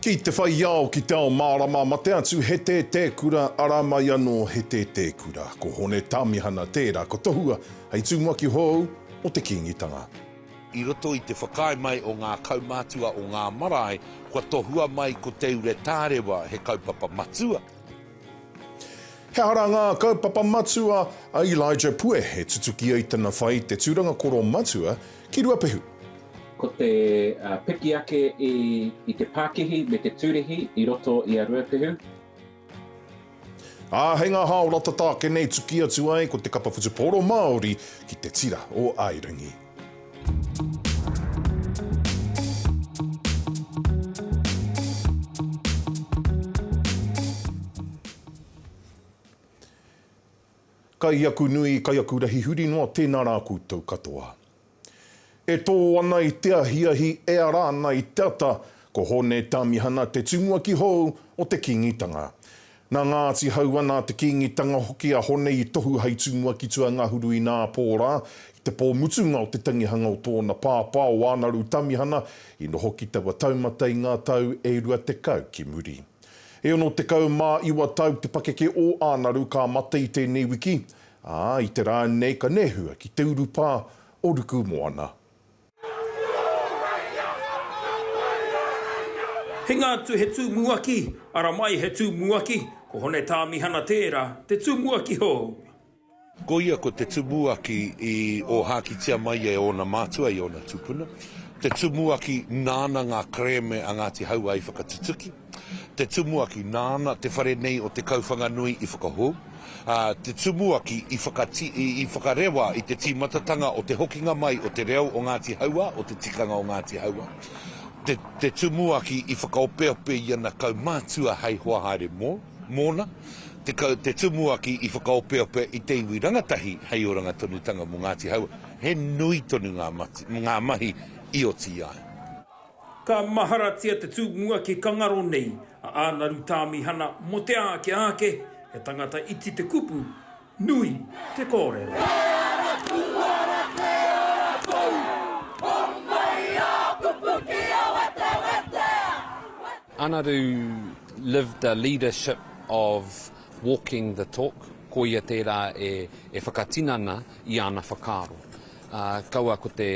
Ki te whai ao, ki te ao mārama, mate atu he tētē kura, arā mai anō he tētē kura. Ko Hone Tāmihana tērā, ko Tohua hei tumuaki hou o te Kīngitanga. I roto i te whakaae mai o ngā kaumātua o ngā marae, kua tohua mai ko Te Ure Tārewa he kaupapa matua. He aha ngā kaupapa matua a Elijah Pue e tutuki ai tana whai i te tūranga koro matua ki Ruapehu? Ko te piki ake i te pākihi me te tūrihi i roto i a Ruapehu. Ā, hei ngā hao rata tāke nei tuki atu ai ko te kapa whutupōro Māori ki te tira o Airangi. Kai aku nui, kai aku rahi huri noa, tēnā rā koutou katoa. E tō ana i te ahiahi, e ara ana i te ata, ko Hōne Tāmihana te tumuaki hou o te Kīngitanga. Nā Ngāti Hauā, nā te Kīngitanga hoki a Hone i tohu hai tū mua ki Tuangahuru i Nāpō rā, i te pō mutunga o te tangihanga o tōna pāpā, o Ānaru Tamihana, i noho ki taua taumata i ngā tau e rua tekau ki muri. E ono tekau mā iwa tau te pakeke o Ānaru ka mate i tēnei wiki, ā, i te rā nei ka nehua ki te urupā o Rukumoana. Hinga atu he tūmuaki, ara mai he tūmuaki, ko Hone Tāmihana tērā, te tūmuaki hou. Ko ia ko te tumuaki i ōhākitia mai e ōna mātua, i ōna tupuna, te tumuaki nāna ngā kerēme a Ngāti Hauā i whakatutuki. Te Tumuaki, nāna te whare nei o Te Kauwhanganui i whakahou, ā, Te Tumuaki i whakati, i whakarewa i te tīmatatanga o te hokinga mai o te reo o Ngāti Hauā, o te tikanga o Ngāti Hauā. Te, Te Tumuaki i whakaopeope i ana kaumātua hei hoa haere mō, mōna. Te, Te Tumuaki i whakaopeope i te iwi rangatahi hei oranga tonutanga mō Ngāti Hauā. He nui tonu ngā, mati, ngā mahi i oti ai. Ka maharatia te tū mua ki Kangaro nei, a Ānaru Tāmihana mō te āke āke, he tangata iti te kupu, nui te kōrero. Kei ara, kū ara, kei ara kou, homai ā kupu ki a wetewete, wetewete. Ānaru lived a leadership of walking the talk, ko ia tērā e whakatinana i ana whakaaro. Ā, kaua ko te,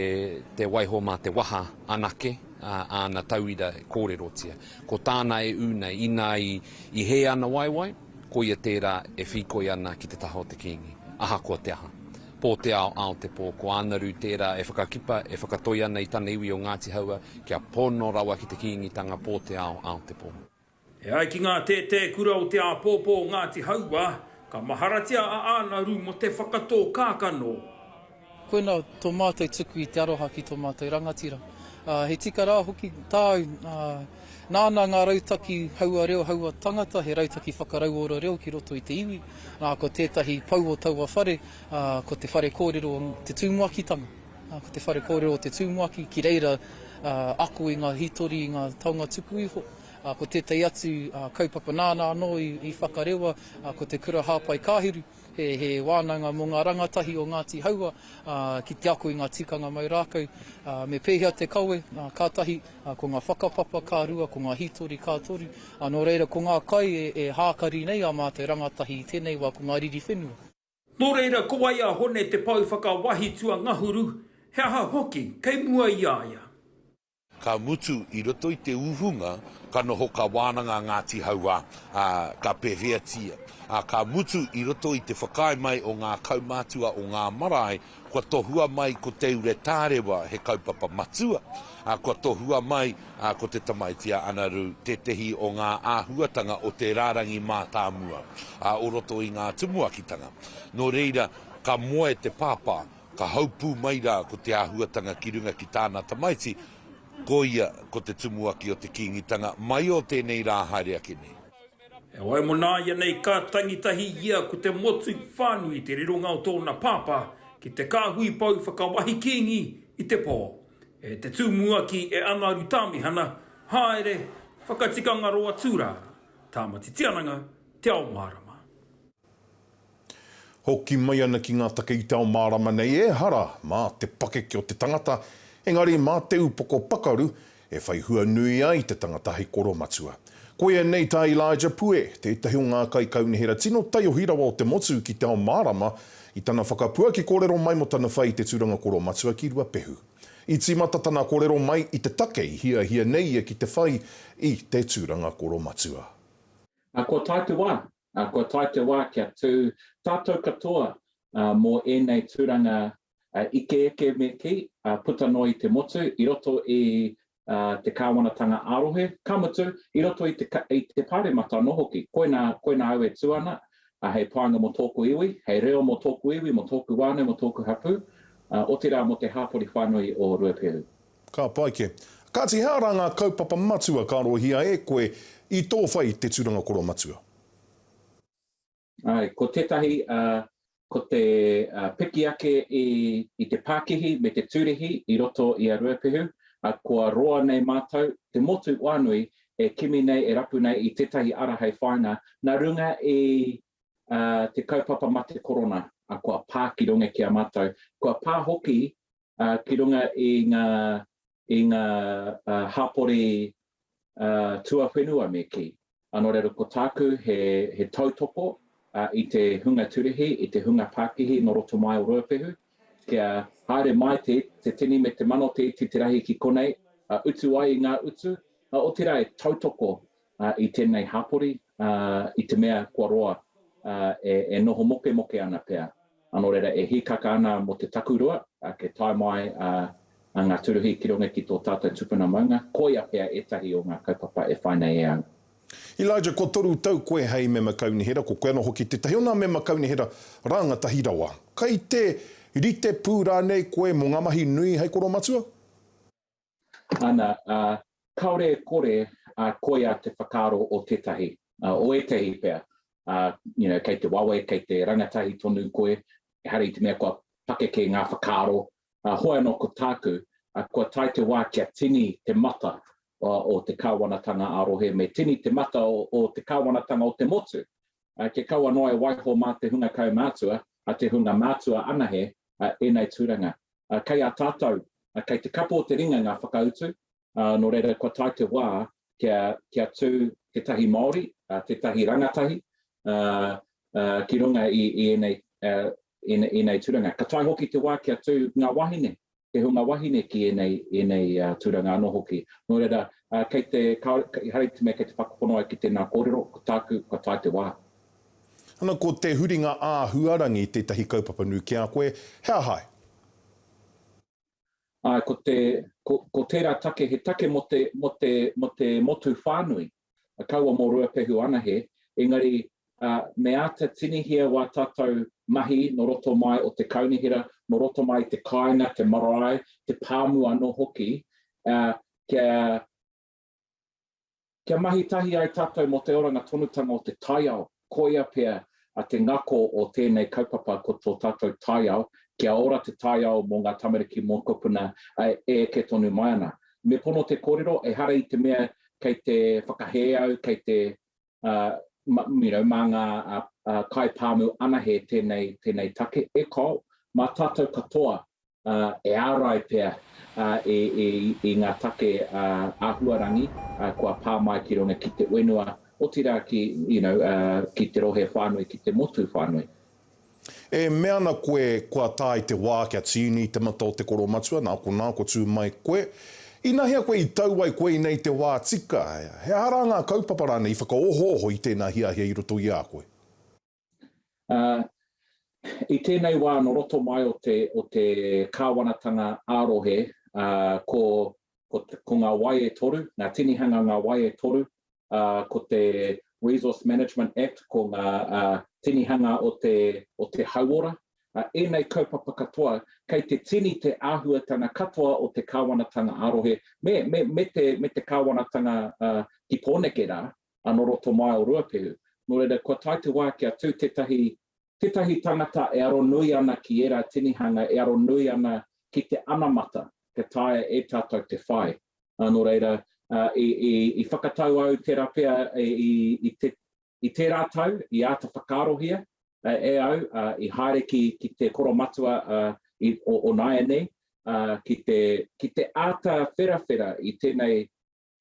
te waiho mā te waha anake, ā, āna tauira e kōrerotia. Ko tāna e ū nei, inā i, i hē ana waewae, koia tērā e whīkoi ana ki te taha o te kīngi, ahakoa te aha. Pō te ao, ao te pō, ko Ānaru tērā e whakakipa, e whakatoi ana i tana iwi o Ngāti Haua, kia pono rawa ki te kīngitanga pō te ao, ao te pō. E ai ki ngā tētē kura o te āpōpō o Ngāti Hauā, ka maharatia a Ānaru mō te whakatō kākano. Koinā tō mātou tuku i te aroha ki tō mātou rangatira. He tika rā hoki tāu, ā, nāna ngā rautaki haua reo, haua tangata, he rautaki whakarauora reo ki roto i te iwi, ā, ko tētahi pou o taua whare, ā, ko te whare kōrero o te tumuakitanga, ā, ko te whare kōrero o te tumuaki, ki reira, ā, ako i ngā hītori, i ngā taonga tuku iho. Ko tētahi atu kaupapa nāna anō i whakarewa, ko te Kura Hāpai Kāhiru, he wānanga mō ngā rangatahi o Ngāti Hauā ki te ako i ngā tikanga mau rākau me pēhea te kawe, ka tahi, ko ngā whakapapa ka rua, ko ngā hītori ka toru. Nō reira, ko ngā kai e hākari nei ā mātou rangatahi i tēnei wā ko ngā riri whenua. Nō reira, ko wai a Hone te pou whakawahi tuangahuru, he aha hoki kei mua i a ia? Ka mutu, i roto i te uhunga, ka noho kā wānanga a Ngāti Hauā, ā, ka pēwheatia. Ā, ka mutu, i roto i te whakaae mai o ngā kaumātua o ngā marae, kua tohua mai ko Te Ure Tārewa he kaupapa matua, ā, kua tohua mai, ā, ko Te Tamaiti a Anarū tētehi o ngā āhuatanga o te rārangi mātāmua, ā, o roto i ngā tumuakitanga. Nō reira, ka moe te pāpā. Ka haupū mai rā ko te āhuatanga ki runga ki tāna tamaiti, ko ia ko te tumuaki o te Kīngitanga mai o tēnei rā haere ake nei. Heoi mona ianei ka tangi tahi ia ko te motu whānui i te rironga o tōna pāpā ki te kāhui pou whakawahi Kīngi i te pō. E te tumuaki e Angaru Tāmihana, haere, whakatikanga roa tū rā, Tāmati Tiananga, Te Ao Mārama. Hoki mai ana ki ngā take i te ao mārama nei, ehara mā te pakeke o te tangata, engari mā te upoko pakaru e whai hua nui ai te tangata hei koromatua. Koia nei tā Elijah Pue, tētahi o ngā kaikaunihera tino taiohi rawa o te motu ki te ao mārama, i tana whakapuaki kōrero mai mō tana whai i te tūranga koromatua ki Ruapehu. I tīmata tana kōrero mai i te take i hiahia nei ia ki te whai i te tūranga koromatua. Nā kua tae te wā, Ā, kua tae te wā kia tū tātou katoa mō ēnei tūranga ike eke me kī, puta noa i te motu, i roto i te kāwanatanga ā-rohe, ka mutu, i roto i te Pāremata anō hoki. Koinā, koinā au e tū ana, hei pānga mō tōku iwi, hei reo mō tōku iwi, mō tōku whānau, mō tōku hapū, otirā mō te hāpori whānui o Ruapehu. Ka pai kē. Kāti he ara ngā kaupapa matua ka arohia e koe i tō whai i te tūranga koro matua? Āe, ko tētahi, ko te piki ake i te pākihi me te tūrihi i roto i a Ruapehu, ā, kua roa nei mātou, te motu whānui, e kimi nei, e rapu nei i tētahi ara hei whāinga nā runga i te kaupapa mate korona, ā, kua pā ki runga ki a mātou, kua pā hoki ki runga i ngā, i ngā hapori tuawhenua me kī. Anō reira ko tāku he, he tautoko i te hunga turihi, i te hunga pākihi nō roto mai o Ruapehu, kia haere mai te, te tini me te mano te iti te rahi ki konei, utu ai i ngā utu, otirā e tautoko i tēnei hapori, i te mea kua roa, e noho mokemoke ana pea, nō reira e hīkaka ana mō te takurua, kei tae mai ngā tūruhi ki runga ki tō tātou tupuna maunga, koia pea ētahi o ngā kaupapa e whai nei e au. Elijah, kua toru tau koe hei mema kaunihera, ko koe anō hoki tētahi o nā mema kaunihera rāngatahi rawa. Kei te rite pū rānei koe mō ngā mahi nui hei koromatua? ana, ā, kāore e kore a koia te whakaaro o tētahi, ā, o ētahi pea, ā, you know, kei te wawe, kei te rangatahi tonu koe, ehara i te mea kua pakeke ngā whakaaro, ā, hoi anō ko tāku, ā, kua tae te wā kia tini te mata o, o te Kāwanatanga ā-rohe, me tini te mata o, o te Kāwanatanga o te motu, ā, kia kaua noa e waiho mā te hunga kaumātua, ā, te hunga mātua anahe, ā, ēnei tūranga. Kei a tātou, kei te kapo o te ringa ngā whakautu, nō reira kua tae te wā kia tū tētahi Māori, tētahi rangatahi ki runga i ēnei tūranga. Ka tae hoki te wā kia tū ngā wāhine, te hunga wāhine ki ēnei tūranga anō hoki. Nō reira, kei te, ehara i te mea kei te whakapono au ki tēnā kōrero, ko tāku, kua tae te wā. Ana ko te huringa āhuarangi tētahi kaupapa nui ki a koe, he aha ai? Āe, ko te, ko, ko tērā take, he take mō te, mō te, mō te motu whānui, kaua mō Ruapehu anahe, engari, ā, me āta tinihia wā tātou mahi nō roto mai o te kaunihera, nō roto mai i te kāinga, te marae, te pāmu anō hoki, ā, kia, Kia mahi tahi ai tātou mō te oranga tonutanga o te taiao, koia pea a te ngako o tēnei kaupapa ko tō tātou taiao, kia ora te taiao mō ngā tamariki mōkopuna e eke tonu mai ana. Me pono te kōrero, ehara i te mea kei te whakahē au, kei te. mā ngā kaipāmu anahe tēnei take. E kau, mā tātou katoa e ārai pea i ngā take āhuarangi kua pā mai ki runga ki te whenua, otirā ki te rohe whānui, ki te motu whānui. E mea ana koe kua tae te wā kia tīni i te mata o te koro matua, nā konā kua tū mai koe. Inahea koe i tau ai koe i nei te wā tika, he aha rā ngā kaupapa rānei i whakaohooho i tēnā hiahia i roto i a koe? Ā, i tēnei wā nō roto mai o te, o te kāwanatanga ā-rohe, ā, ko, ko, ko ngā wai e toru, ngā tinihanga ngā wai e toru, ko te Resource Management Act, ko ngā tinihanga o te, o te hauora, ēnei kaupapa katoa, kei te tini te āhuatanga katoa o te kāwanatanga ā-rohe, me, me, me te, me te kāwanatanga ki Pōneke rā, anō roto mai o Ruapehu. Nō reira, kua tae te wā kia tū tētahi tētahi tangata e aro nui ana ki ērā tinihanga, e aro nui ana ki te anamata, ka taea e tātou te whai. Ā, nō reira, i whakatau au tērā pea i tērā tau, i āta whakaarohia e au, i haere ki te koromatua o nāianei, ki te āta wherawhera i tēnei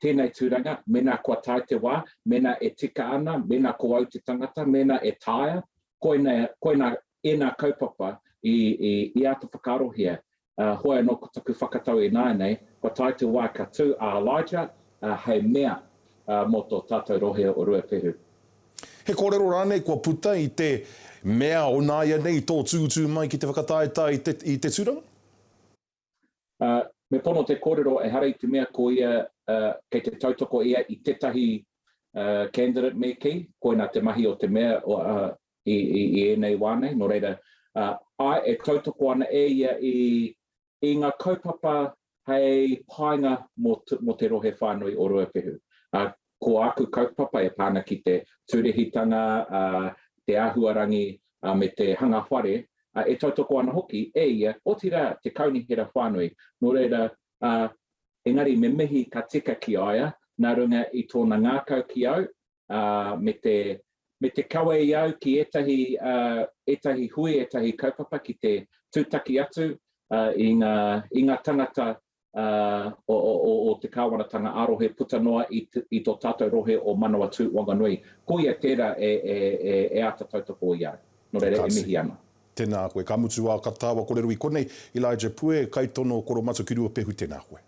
tēnei tūranga, mēnā kua tae te wā, mēnā e tika ana, mēnā ko au te tangata, mēnā e taea, koinei, koinā ēnā kaupapa i, i, i āta whakaarohia. Ā, hoi anō ko taku whakatau ināianei, kua tae te wā ka tū a Elijah, ā, hei mea, ā, mō tō tātou rohe o Ruapehu. He kōrero rānei kua puta i te mea o nāianei tō tūtū mai ki te whakataetae i te, i te tūranga? Ā, me pono te kōrero ehara i te mea ko ia, ā, kei te tautoko ia i tētahi, ā, candidate me kī, koinā te mahi o te mea, ā, i, i, i ēnei wā nei, nō reira, ā, āe, e tautoko ana e ia i, i ngā kaupapa hei painga mō, mō te rohe whānui o Ruapehu. Ā, Ko āku kaupapa e pā ana ki te tūrehitanga, te āhuarangi me te hanga whare, e tautoko ana hoki e ia, otirā te kaunihera whānui. Nō reira, engari me mihi ka tika ki a ia nā runga i tōna ngākau ki au me te kawe i au ki ētahi hui, ētahi kaupapa ki te tūtaki atu i ngā tangata o te Kāwanatanga ā-rohe puta noa i tō tātou rohe o Manawatū Wanganui. Koia tērā e āta tautoko i a au. Nō reira, e mihi ana. Tēnā koe. Ka mutu wā ka tāua korero i konei, Elijah Pue, kaitono Koromatu ki Ruapehu, tēnā koe.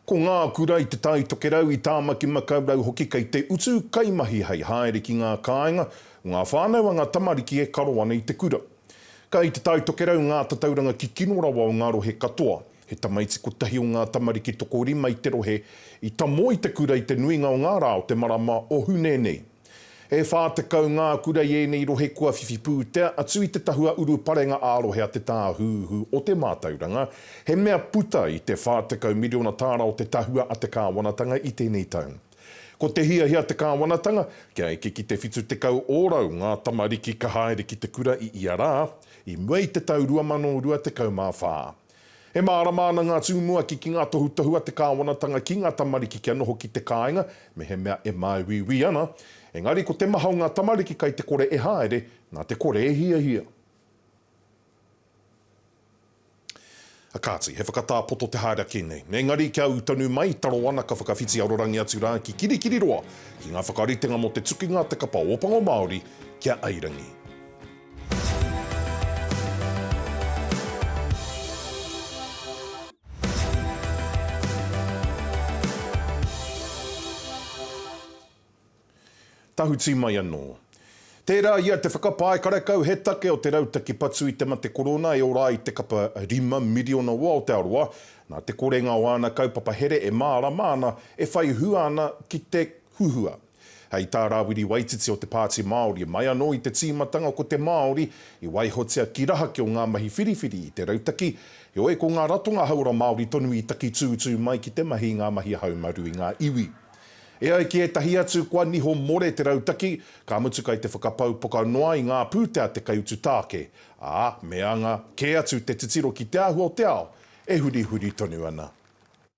Ko ngā kura i Te Tai Tokerau, i Tāmaki-makau-rau hoki kei te utu kaimahi hei haere ki ngā kāinga o ngā whānau a ngā tamariki e karo ana i te kura. Kai Te Tai Tokerau ngā tatauranga kikino rawa o ngā rohe katoa. He tamaiti kotahi o ngā tamariki tokorima i te rohe i tamo i te kura i te nuinga o ngā rā o te marama o Hune nei. E whā tekau ngā kura i ēnei rohe kua whiwhi pūtea atu i te tahua uruparenga ā-rohe a te Tāhuhu o te Mātauranga, he mea puta i te 40 miriona tāra o te tahua a te kāwanatanga i tēnei tau. Ko te hiahia te kāwanatanga, kia eke ki te 70 ōrau ngā tamariki ka haere ki te kura i ia rā, i mua i te tau 2024. E mārama ana ngā tumuaki ki ngā tohutohu a te kāwanatanga ki ngā tamariki kia noho ki te kāinga, mehemea e māuiui ana. Engari ko te maha o ngā tamariki kai te kore e haere, nā te kore e hiahia. Kāti, he whakatā poto te haere ake nei. Engari kia ū tonu mai, taro ana ka whakawhiti arorangi atu rā ki Kirikiriroa ki ngā whakaritenga mō te tukinga a te kapa Ōpango Māori ki a Airangi. Tahuti mai anō. Tērā ia te whakapae karekau he take o te rautaki patu i te mate korona e ora ai te kapa rima miriona o Aotearoa, nā te korenga o āna kaupapa here e mārama ana, e whai hua ana ki te huhua. Hei tā Rawiri Waititi o te Pāti Māori, mai anō i te tīmatanga ko te Māori i waihotia ki raha ki o ngā mahi whiriwhiri i te rautaki, heoi ko ngā ratonga hauora Māori tonu i takitūtū mai ki te mahi i ngā mahi haumaru i ngā iwi. E ai ki ētahi atu kua niho more te rautaki, ka mutu kai te whakapau poka noa i ngā pūtea te kaiutu tāke, ā, me anga kē atu te titiro ki te āhua o te ao e hurihuri tonu ana.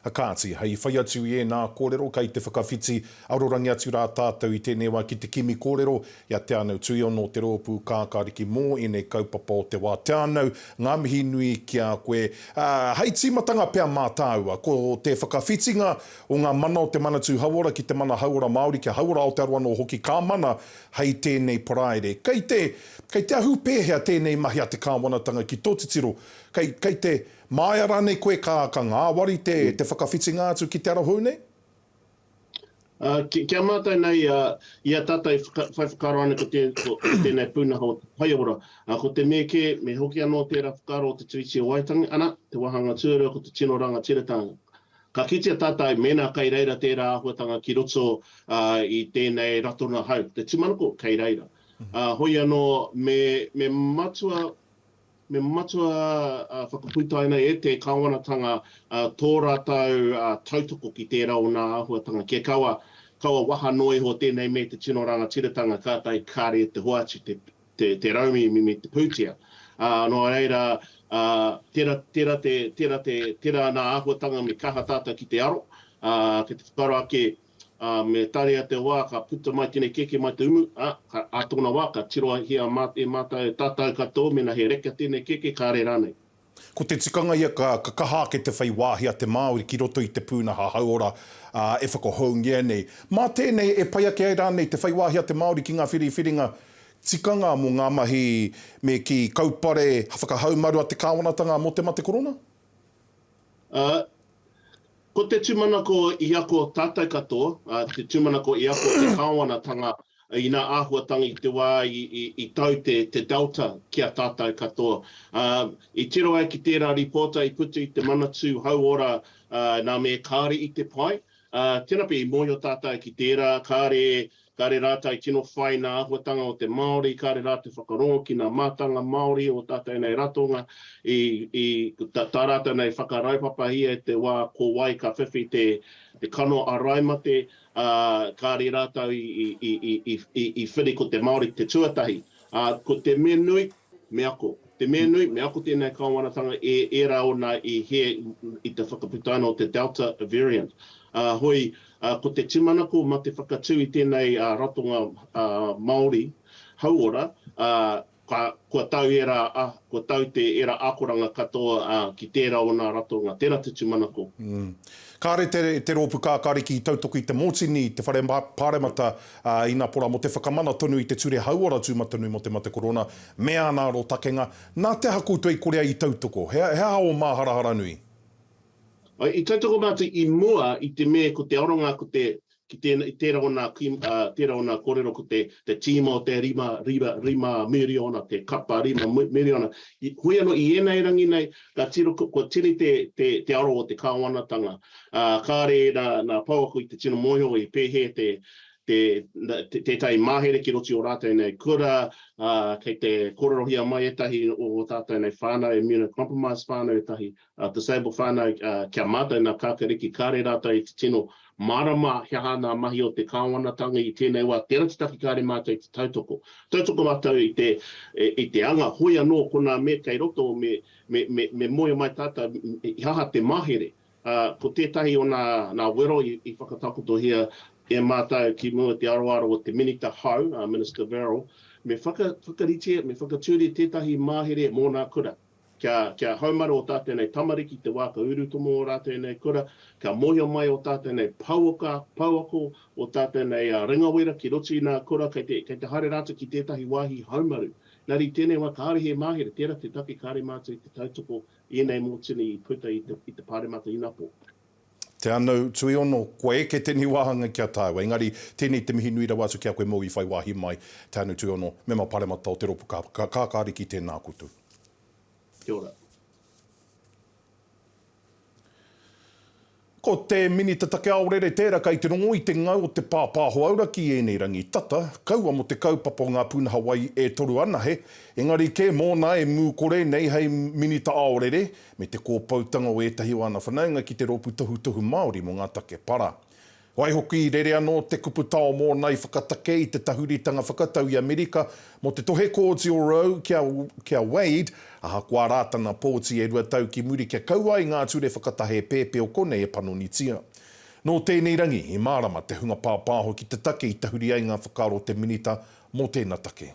Kāti, hei whai atu i ēnā kōrero kei te whakawhiti arorangi atu rā tātou i tēnei wā ki te kimi kōrero i a Te Anau Tuiono o te rōpū Kākāriki mō ēnei kaupapa o te wā. Te Anau, ngā mihi nui ki a koe. Ā, hei tīmatanga pea mā tāua, ko te whakawhitinga o ngā mana o te Manatū Hauora ki te mana hauora Māori, kia hauora Aotearoa anō hoki ka mana hei tēnei Paraire. Kei te, kei te ahu pēhea tēnei mahi a te Kāwanatanga ki tō titiro, kei, kei te. Māia rānei koe ka, ka ngāwari te, te whakawhitinga atu ki te arahou nei? Ā, ki, ki a mātou nei, ā, i a tātou i whaka, whai whakaaro ana ko tē, ko, ko tēnei pūnaha o te whaiora, ā, ko te me kē, me hoki anō tērā whakaaro o te Tiriti o Waitangi, ana, te wāhanga tuarua ko te tino rangatiratanga. Ka kitea tātou mēnā kei reira tērā āhuatanga ki roto, ā, i tēnei ratonga hau, te tūmanako, kei reira. Ā, hoi anō, me, me matua Me matua whakapuitaina e te Kāwanatanga tō rātou tautoko ki tērā o nā āhuatanga kia kaua, kaua waha noa iho tēnei me te tino rangatiratanga kātahi kāre e te hoatu te rauemi me te pūtea. Nō reira, tērā, tērā te, tērā te, tērā nā āhuatanga me kaha tātou ki te aro, ki te whakaaro ake, ā, me tarea te wā ka puta mai tēnei kēkē mai te umu, ā, ka, ā tōna wā, ka tirohia mā, e mātou, e tātou katoa mēnā he reka tēnei kēkē, kāre rānei. Ko te tikanga ia ka, ka kaha ake te whai wāhi a te Māori ki roto i te pūnaha hauora, ā, e whakahoungia nei. Mā tēnei e pai ake ai rānei te whai wāhi a te Māori ki ngā whiriwhiringa tikanga mō ngā mahi me kī, kaupare whakahaumaru a te kāwanatanga mō te mate korona? Ā, Ko te tūmanako i ako tātou katoa, ā, te tūmanako i ako te kāwanatanga inā āhuatanga i te wā i tau te Delta ki a tātou katoa. Ā, i tiro ai ki tērā rīpōta i puta i te Manatū Hauora nā me kāre i te pae, ā, tēnā pea i mōhio tātou ki tērā kāre Kāre rātou i tino whai nā āhuatanga o te Māori, kāre rātou whakarongo ki nā mātanga Māori o tātou nei ratonga, tā rātou nei whakaraupapahia i te wā ko wai ka whiwhi te kano āraimate, ā, kāre rātou i whiri ko te Māori te tuatahi. Ā, ko te me nui, Me ako. Te mea nui, me ako tēnei kāwanatanga e ērā ōna i hē i te whakaputa ana o te Delta variant. Ā, hoi, ko te tūmanako mā te whakatū i tēnei ratonga Māori hauora, ā, kua tau ērā, kua tau te ērā akoranga katoa ki tērā o nā ratonga. Tērā te tūmanako. Kāre te rōpu kākāriki i tautoko i te mōtini i te whare pāremata ā, ina pora mō te whakamana tonu i te Ture Hauora Tūmatanui mō te Mate Korona me āna arotakenga, nā te aha koutou i kore ai i tautoko? He, he aha ō māharahara nui? I tautoko mātou i mua i te me ko te aronga ko te, ki tēnā, i tērā o nā kui, ā, tērā o nā kōrero ko te, te tīma o te rima, rima, rima miriona, te kapa rima miriona, i, hoi anō, i ēnei rangi nei, Ka tiro, kua tere te aro o te Kāwanatanga, ā, kāre nā pouako i te tino mōhio i pēhē tētahi mahere ki roto i ō rātou nei kura, ā, kei te kōrerohia mai ētahi o ō tātou nei whānau, immunocompromised whānau ētahi, disabled whānau, kia mātau nā Kākariki, kāre rātou i te tino Mārama he aha ngā mahi o te Kāwanatanga i tēnei wā, tērā te taki kāre mātou i te tautoko. Tautoko mātou i te anga, hoi anō konā me kei roto me moe mai tātou i aha te mahere. Ko tētahi o nā wero i whakatakotohia e mātou ki mua te aroaro o te Minita hou, a Minister Verrall, me whakaritea, me whakatūria tētahi mahere mō nā kura. Kia, kia haumaru o tātou nei tamariki te wā ka urutomo ō rātou nei kura, kia mōhio mai ō tātou nei pouaka, pouako, ō tātou nei ringawera ki roto i nā kura, kei te, kei te haere rātou ki tētahi wāhi haumaru. Nā reira i tēnei wā kāore he māhere, tērā te take kāore mātou i te tautoko i ēnei mōtini i puta i te, i te Pāremata Inapo. Te Anau, Tuiono, kua eke tēnei wāhanga ki a tāua. Engari, tēnei te mihi nui rawa atu ki a koe mō i whai wāhi mai. Te Anau, Tuiono, Mema Paremata o te Ropu Kākāriki, tēnā koutou. Kia ora. Ko te Minita Take Aorere tēra kei te rongo i te ngau o te pāpāho auraki i ēnei rangi tata, kaua mō te kaupapa o ngā pūnaha wai e toru anahe, engari kē mōna e mū kore nei hei Minita Aorere, me te kōpoutanga o ētahi o ana whanaunga ki te Rōpū Tohutohu Māori mō ngā Take Para. Waihoki, rere anō te kupu tao mōna i whakatake i te tahuritanga whakatau i Amerika mō te tohe kōti o Roe ki a, ki a Wade, ahakoa rā tana pōti e rua tau ki muri kia kaua ai ngā ture whakatahe pēpē o konei e panonitia. Nō tēnei rangi i mārama te hunga pāpāho ki te take i tahuri ai ngā whakaaro o te Minita mō tēna take.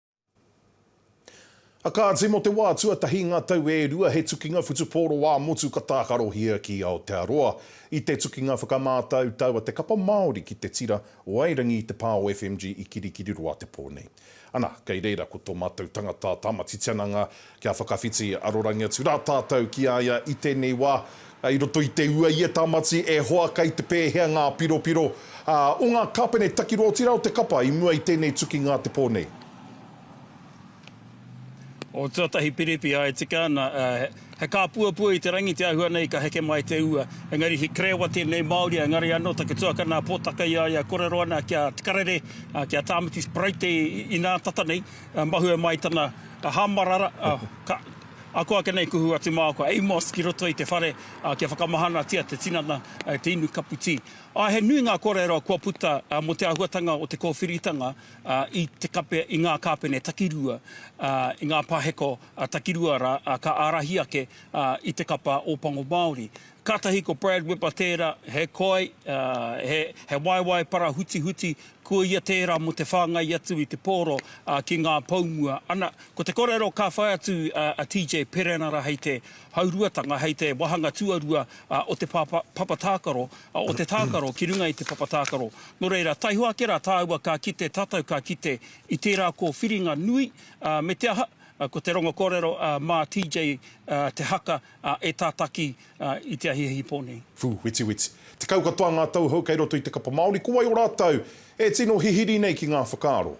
A kāti, mō te wā tuatahi i ngā tau e rua he tukinga whutupōro ā-motu ka tākarohia ki Aotearoa. I te tukinga whakamātautau a te kapa Māori ki te tira o Airangi i te pā o FMG i Kirikiriroa te pō nei. Ana, kei reira ko tō mātou tangata Tāmati Tiananga Kia whakawhiti arorangi atu rā tātou ki a ia i tēnei wā, i roto i te ua, i e Tamati, e hoa, kei te pēhea ngā piropiro o ngā kāpene takiro otirā o te kapa i mua i tēnei tukinga a te pō nei? O tuatahi piripi a e tika ana, he kāpuapua i te rangi te āhua nei ka heke mai te ua. Engari he kerewa tēnei Māori, engari anō taku tuakana pōtaka i a ia kōrero ana ki a Tikarere, ki a Tāmati Speraite inā tata nei. Ka mahue mai tana hamarara, ka ako ake nei kuhu a Te Māoka Amos ki roto i te whare kia whakamahanatia te tinana, te inu kapu tī. Āe, he nui ngā kōrero kua puta mō te āhuatanga o te kōwhiritanga i te kape, i ngā kāpene takirua, i ngā paheko takirua rā, ka ārahi ake i te kapa Ōpango Māori. Kātahi ko Brad Whipper tērā, he koi, he waewae parahutihuti, ko ia tērā mō te whāngai atu i te pōro ki ngā poumua. Ana, ko te kōrero ka whai atu a TJ Perenara hei te hauruatanga, hei te wāhanga tuarua o te papa tākaro, o te tākaro ki runga i te papa tākaro. Nō reira, taihoa ake rā tāua ka kite, tātou ka kite i tērā kōwhiringa nui, me te aha, ko te rongo kōrero mā TJ te haka, e tātaki i te ahiahi pō nei. Whū, wetiweti. Tekau katoa ngā tauhou kei roto i te kapa Māori, ko wai o rātou e tino hihiri nei ki ngā whakaaro?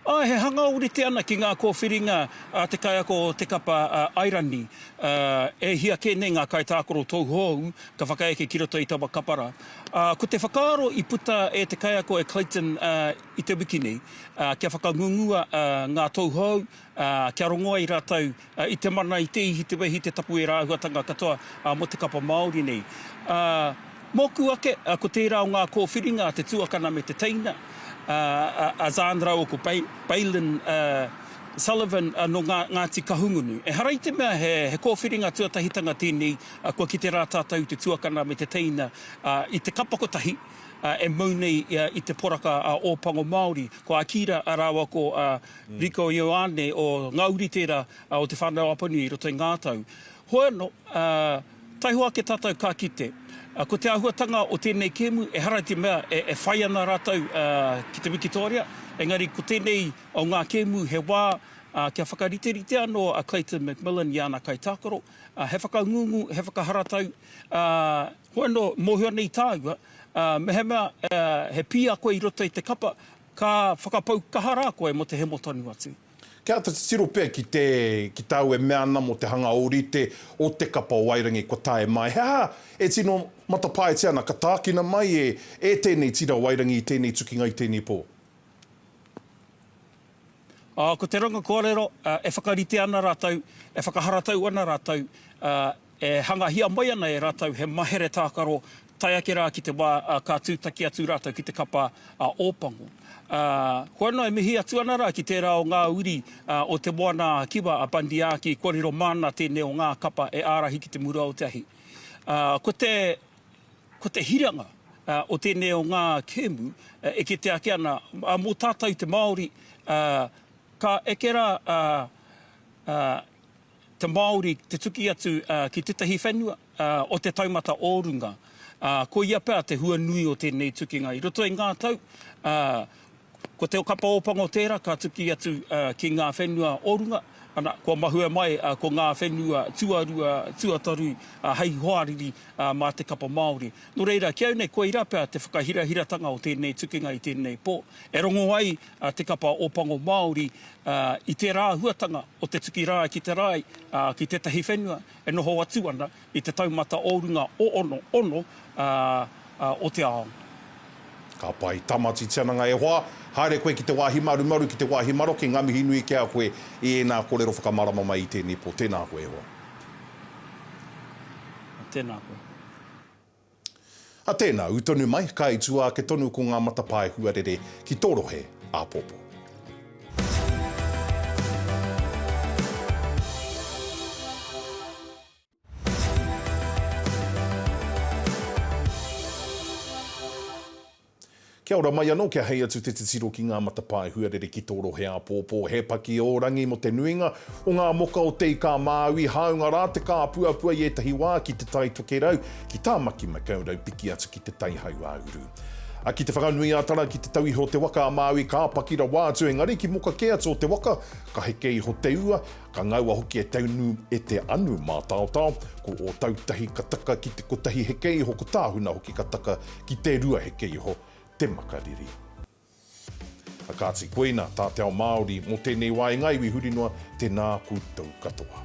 Āe, he hanga ōrite ana ki ngā kōwhiringa a te kaiako o te kapa Airani. E hia kē nei ngā kaitākaro tauhou ka whakaeke ki roto i taua kapa rā. Ko te whakaaro i puta e te kaiako e Clayton i te wiki nei, kia whakangungua ngā tauhou ā, kia rongo ai rātou i te mana, i te ihi, te wehi, te tapu, ērā āhuatanga katoa mō te kapa Māori nei. Ā, mōku ake, ko tērā o ngā kōwhiringa a te tuakana me te teina, ā, a Zandra o ko Bailyn Sullivan nō ngā Ngāti Kahungunu. Ehara i te mea he kōwhiringa tuatahitanga tēnei, kua kite rā tātou i te tuakana me te teina i te kapa kotahi e mau nei i te poraka Ōpango Māori. Ko Akira rāua ko Rico Ioane o ngā uri tērā o Te Whānau Apanui i roto i ngā tau. Hoianō, taihoa ake tātou ka kite, ko te āhuatanga o tēnei kēmu, ehara i te mea e whai ana rātou ki te Wikitōria, engari ko tēnei o ngā kēmu he wā kia whakariterite anō a Clayton McMillan i ana kaitākaro, he whakangungu, he whakaharatau, ā, hoianō, mōhio nei tāua, mehemea he pīako i roto i te kapa, Ka whakapau kaha rā koe mō te hemo tonu atu. Kia āta titiro pea ki te, ki tāu e mea ana mō te hanga ōrite o te kapa o Wairangi kua tae mai. He aha e tino matapaetia ana ka tākina mai e, e tēnei tira Wairangi i tēnei tukinga, i tēnei pō? Ko te ranga kōrero, e whakarite ana rātou, e whakaharatau ana rātou, E hangahia mai ana e rātou he mahere tākaro tae ake rā ki te wā ka tūtaki atu rātou ki te kapa a Ōpango. Ā, kua noa e mihi atu ana rā ki tērā o ngā uri o Te Moana-a-Kiwa, a Bandiaki, kōrero māna tēnei o ngā kapa e ārahi ki te mura o te ahi. Ā, ko te, ko te hiranga o tēnei o ngā kēmu e kite ake ana, ā, mō tātou te Māori, ā, ka eke rā, ā, ā, te Māori te tuki atu ki tētahi whenua o te taumata o runga. Koia pea te hua nui o tēnei tukinga. I roto i ngā tau, ko Te Okapa Ōpango tērā ka tuki atu ki ngā whenua o runga, ana, kua mahue mai ko ngā whenua tuarua, tuatoru hei hoariri mā te kapa Māori. Nō reira, ki au nei, koirā pea te whakahirahiratanga o tēnei tukinga i tēnei pō, e rongo ai a Te Kapa o Pango Māori i tērā āhuatanga o te tuki rāi ki te rāi ki tētahi whenua e noho atu ana i te taumata o runga o ono, ono o te ao. Ka pai. Tamaiti Tiananga e hoa, haere koe ki te wāhi marumaru, ki te wāhi maroke, ngā mihi nui ki a koe i ēnā kōrero whakamārama mai i tēnei pō. Tēnā koe e hoa. Tēnā koe. A tēnā, ū tonu mai, ka i tua ake tonu ko ngā matapae huarere ki tō rohe āpōpō. Kia ora mai anō, kia hei atu te titiro ki ngā matapae huarere ki tō rohe āpōpō. He paki ō rangi mō te nuinga o ngā moka o Te Ika-a-Māui, hāunga rā te kāpuapua i ētahi wā ki Te Tai Tokerau, ki Tāmaki-makau raupiki atu ki Te Tai Hau-a-uru. A ki Te Whanganui-a-Tara, ki te tau iho o te waka a Māui, ka paki rawa atu, engari ki moka kē atu o te waka, ka heke iho te ua, Ka ngaua hoki e Teunu e Te Anu mātaotao, ko Ōtautahi ka taka ki te kotahi heke iho, ko Tāhuna hoki ka taka ki te rua heke iho te makariri. A kāti, koina tā te ao Māori mō tēnei wā e ngā iwi huri noa, tēnā koutou katoa.